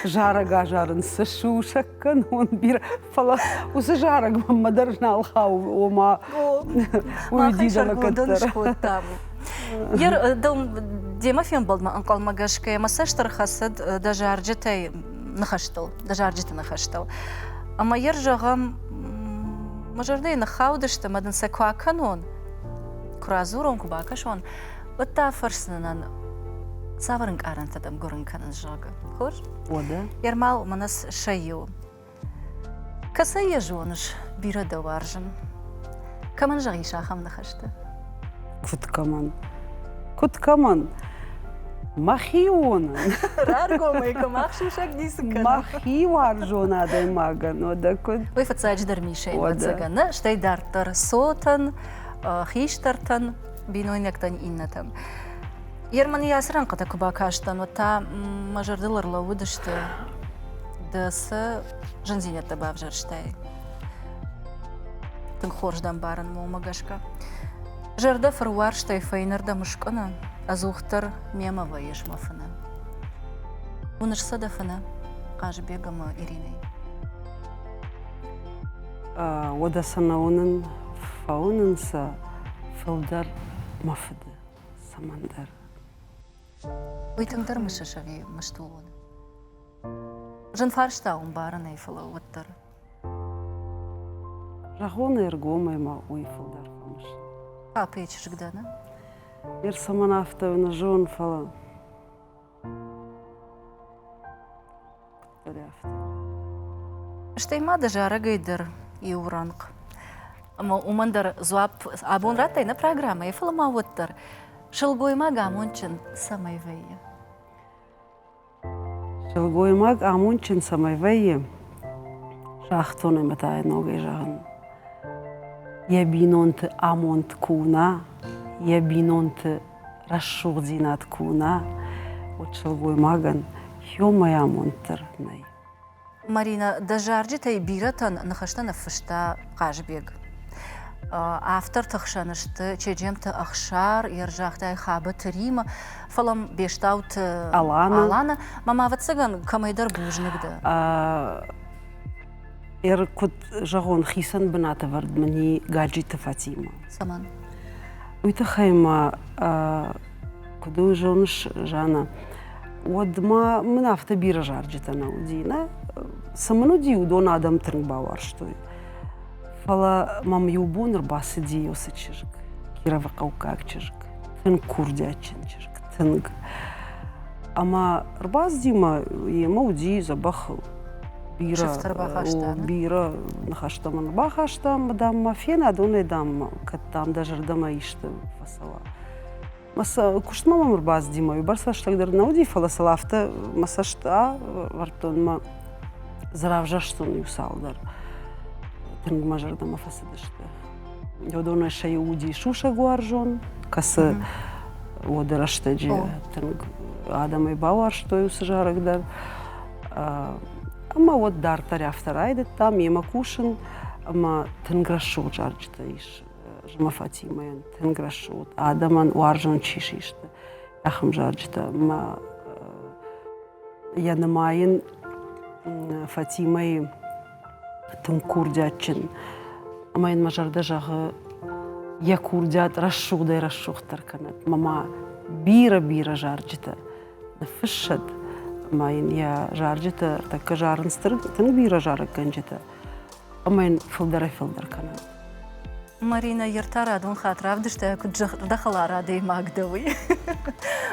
зарӕг азарын цы сусӕг кӕнон бирӕ, фӕлӕ уыцы зарӕг мӕммӕ дӕр нал хауы, ома уый дидамӕ кӕддӕр. Гер, дӕу демӕ фембӕлдмӕ ӕнхъӕлмӕ гӕсгӕ мӕ цӕст ӕрхӕцыд дӕ зарджытӕй ныхӕстыл, дӕ зарджыты ныхӕстыл. Ӕмӕ йӕ зӕгъӕм, мӕ зӕрдӕйы ныххаудысты, ӕмӕ дын сӕ куы акӕнон, куы радзурон, куы бакӕсон, уӕд дӕ афӕрсдзынӕн, цавӕр ӕнкъарӕнтӕ дӕм гуырын кӕнынц, зӕгъы. Хорз? Уӕдӕ? Ермал мӕнӕ сӕ иу. Кӕцӕй йӕ зоныс, бирӕ дӕ уарзын? Кӕмӕн зӕгъис ахӕм ныхӕстӕ? Куыд кӕмӕн? Куыд кӕмӕн? Мӕхионӕн. Раргомӕй кӕм ӕхсусӕг ницы кӕна. Мӕхи уарзон адӕймагӕн, уӕдӕ куыд? Уый фыццаджыдӕр Мишӕйӕн ӕвӕццӕгӕн нӕ, стӕй дарддӕр цотӕн, хистӕртӕн, бинойнӕгтӕн, иннӕтӕн. Ерманы йӕ ацы рӕнхъытӕ куы бакастӕн, уӕд та мӕ зӕрдыл ӕрлӕууыдысты, дӕ цы зындзинӕдтӕ бавзӕрстай, Тынг хорз дӕ мбарын момӕ гӕсгӕ. Зӕрдӕ фыруарзтӕй фӕйнӕрдӕм скъуыны, ӕдзухдӕр мемӕ вӕййыс мӕ фынӕ. Уыныс сӕ дӕ фынӕ Хъазыбег ӕмӕ Иринӕй? Уӕдӕ сӕ нӕ уынын, фӕуынын сӕ фылдӕр мӕ фыды цӕмӕндӕр. Уый тынгдӕр мысыс ӕви мыстыл уыд? Зын фарста у мбарынӕй, фӕлӕ уӕддӕр Рагъоны ӕргомӕй ма уый фылдӕр фӕмыс. Папӕйы чызг дӕ, нӕ? Ме рцӕмӕн афтӕ нӕ зон, фӕлӕ. Куыддӕр афтӕ. Стӕй ма дӕ зарӕгӕй дӕр иу рӕнхъ. Ӕмӕ уымӕн дӕр дзуапп абон радтай нӕ программӕйы, фӕлӕ ма уӕддӕр сылгоймаг амондджын цӕмӕй вӕййы? Сылгоймаг амондджын цӕмӕй вӕййы, шахтон ӕмӕ та ногӕй зӕгъын, йӕ бинонты амонд куы уына, йӕ бинонты рӕсугъддзинад куы уына, уӕд сылгоймагӕн иумӕйы амонд дӕр нӕй. Марина, дӕ зарджытӕй бирӕтӕн ныхӕстӕ ныффыста Хъазбег. Авторты хсӕн сты Чеджемты Ӕхсар, Ерзӕгтӕй Хабыты Рима, фӕлӕ Бестауты Алана. Мамӕ, ӕвӕццӕгӕн, кӕмӕйдӕр бузныг дӕ. Ӕр куыд зӕгъон, хицӕн бынатӕвӕрд мын и Гаджиты Фатимӕ. Цӕмӕн? Уый тыххӕй мӕ Куыд ыл зоныс, Жанна, уӕдмӕ мын афтӕ бирӕ зарджытӕ нӕ уыди. Нӕ цы мын уыди, уыдон адӕм тынг бауарзтой. Фӕлӕ мӕм иу бон ӕрбацыди уыцы чызг, кировыхъӕуккаг чызг, тынг курдиатджын чызг, тынг. Ӕмӕ ӕрбацыди мӕ йемӕ уыди дзӕбӕхыл. Бирӕ, бирӕ ныхӕстӕ мын бахаста, дам, ма фена, донӕй, дам, кӕд дам дӕ зӕрдӕмӕ исты фӕцӕуа. Мӕ куыстмӕ мӕм ӕрбаздзыди мӕ бӕрц рӕстӕгдӕр нӕ уыди, фӕлӕ сыл афтӕ мӕ цӕст ӕвӕрдтон мӕ дзы равзӕрстон иу цалдӕр. Тынг мӕ зӕрдӕмӕ фӕцыдысты. Уыдонӕй сӕ иу уыди сусӕгуарзон, кӕцы уӕды рӕстӕджы тынг адӕмӕй бауарзтой уыцы зарӕг дӕр. Ӕмӕ уӕд дарддӕр афтӕ райдыдтам йемӕ кусын, ӕмӕ тынг рӕсугъд зарджытӕ ис Зымы Фатимӕйӕн тынг рӕсугъд, адӕмӕн уарзон чи систы, ахӕм зарджытӕ. Мӕ йӕ нымайын Фатимӕйы тынг курдиатджын ӕмӕ йын мӕ зӕрдӕ зӕгъы йӕ курдиат рӕсугъдӕй рӕсугъддӕр кӕнӕд. Мӕ ма бирӕ-бирӕ зарджытӕ ныффыссӕд ӕмӕ йын йӕ зарджытӕ ӕртӕккӕ зарынц тынг бирӕ зарӕггӕнджытӕ ӕмӕ йын фылдӕрӕй-фылдӕр кӕнӕд. Марина, йе ртӕ радон хатт равдыста, куыд дӕ хӕлар адӕймаг дӕ, уый.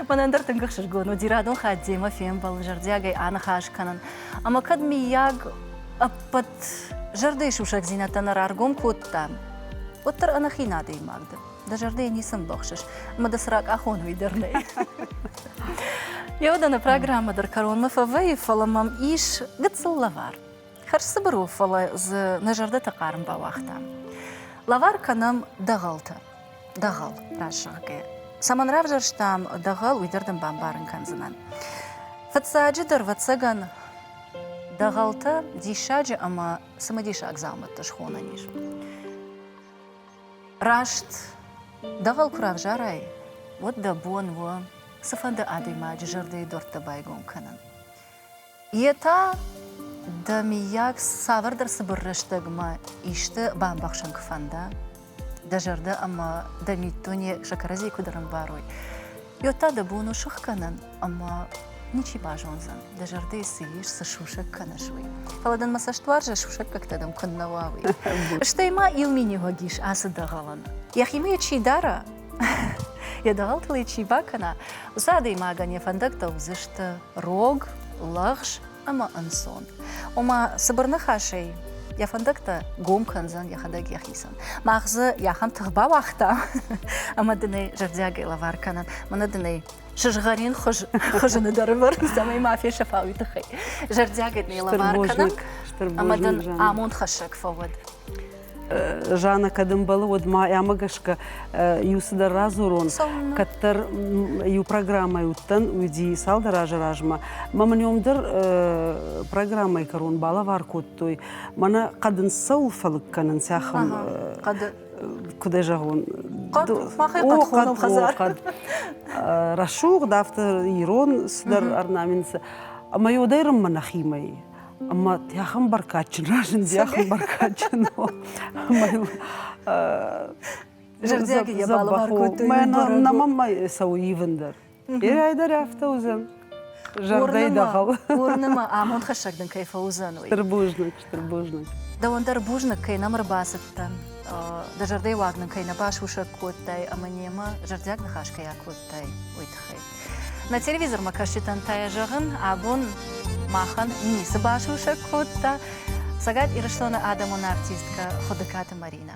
Мӕнӕн дӕр тынг ӕхсызгон уыди радон хатт демӕ фембӕлын, зӕрдиагӕй аныхас кӕнын. Ӕмӕ кӕд, миййаг, ӕппӕт зӕрдӕйы сусӕгдзинӕдтӕ нӕ раргом кодтам, уӕддӕр ӕнӕхин адӕймаг дӕ. Дӕ зӕрдӕйы ницы ӕмбӕхсыс, ӕмӕ дӕ цы ракъахон, уый дӕр нӕй. Йӕ уыдоны программӕ дӕр кӕронмӕ фӕвӕййы, фӕлӕ мӕм ис гыццыл лӕвар. Хӕрзцыбыр у, фӕлӕ дзы нӕ зӕрдӕты хъарм бауагътам. Лӕвар кӕнӕм дӕгъӕлтӕ. Дӕгъӕл, раст зӕгъгӕ. Цӕмӕн равзӕрстам дӕгъӕл, уый дӕр дын бамбарын кӕндзынӕн. Фыццаджы дӕр, ӕвӕццӕгӕн, дӕгъӕлтӕ диссаджы ӕмӕ цымыдисаг дзаумӕттӕ схонӕн ис. Раст дӕгъӕл куы равзарай, уӕд дӕ бон у цыфӕнды адӕймаджы зӕрдӕйы дуӕрттӕ байгом кӕнын. Йе та дӕ миййаг цавӕрдӕр цыбыр рӕстӕгмӕ исты бамбӕхсын куы фӕнда, дӕ зӕрдӕ ӕмӕ дӕ миддуне сӕ кӕрӕдзийы куыд ӕрӕмбарой, уӕд та дӕ бон у сыхгӕнын ӕмӕ ничи базондзӕн, дӕ зӕрдӕйы цы ис, цы сусӕг кӕныс, уый. Фӕлӕ дын мӕ цӕстуарзӕй сусӕггӕгтӕ дӕм куыннӕ уа, уый. Стӕй ма иу миниуӕг ис ацы дӕгъӕлӕн. Йӕхимӕ йӕ чи дара, йӕ дӕгъӕлтыл ӕй чи бакӕна, уыцы адӕймагӕн йӕ фӕндӕгтӕ уыдзысты рог, лӕгъз ӕмӕ ӕнцон. Ома, цыбыр ныхасӕй, йӕ фӕндӕгтӕ гом кӕндзӕн йӕхӕдӕг йӕхицӕн. Мах дзы йӕ ахӕм тых бауагътам, ӕмӕ дын ӕй зӕрдиагӕй лӕвар кӕнын. Мӕнӕ дын ӕй сызгъӕрин хуыз, хызыны дӕры вӕрын, цӕмӕй ма фесӕфа уый тыххӕй. Зӕрдиагӕй дын ӕй лӕвар кӕнӕм, ӕмӕ дын амондхӕссӕг фӕуӕд. Жанна, кӕд ӕмбӕлы, уӕд ма ӕмӕ гӕсгӕ иу цыдӕр радзурон, кӕддӕр иу программӕ уыдтӕн, уыди цалдӕр азы размӕ. Мӕ мын ном дӕр программӕйы кӕрон балӕвар кодтой. Мӕнӕ хъӕдын цӕуыл фӕлыг кӕнын цахӕм хъӕды куыд зӕгъон хъӕд махӕй хъӕд хӕдзар рӕсугъд афтӕ ирон цыдӕр орнаменты ӕмӕ йодӕй рыммы нӕхимӕ ӕмӕ тӕхын бӕркадджын разынди ахӕм бӕркадджын зӕрдиаг йӕ балӕвар кодтой нӕ маммӕ цӕуы ивын дӕр ирӕй дӕр афтӕ уыдзӕн зӕрдӕй дӕхау уырны мӕ амондхӕссӕг дын кӕй фӕуыдзӕн уый стыр бузныг стыр бузныг дӕуӕн дӕр бузныг кӕй нӕм ӕрбацыдтӕн дӕ зӕрдӕйы уаг нын кӕй нӕ басусӕг кодтай ӕмӕ немӕ зӕрдиаг ныхас кӕй акодтай уый тыххӕй На телевизормӕ кӕсджытӕн та йӕ зӕгъын, абон махӕн ницы басусӕг кодта Цӕгат Ирыстоны адӕмон артисткӕ Хуыдыкаты Маринӕ.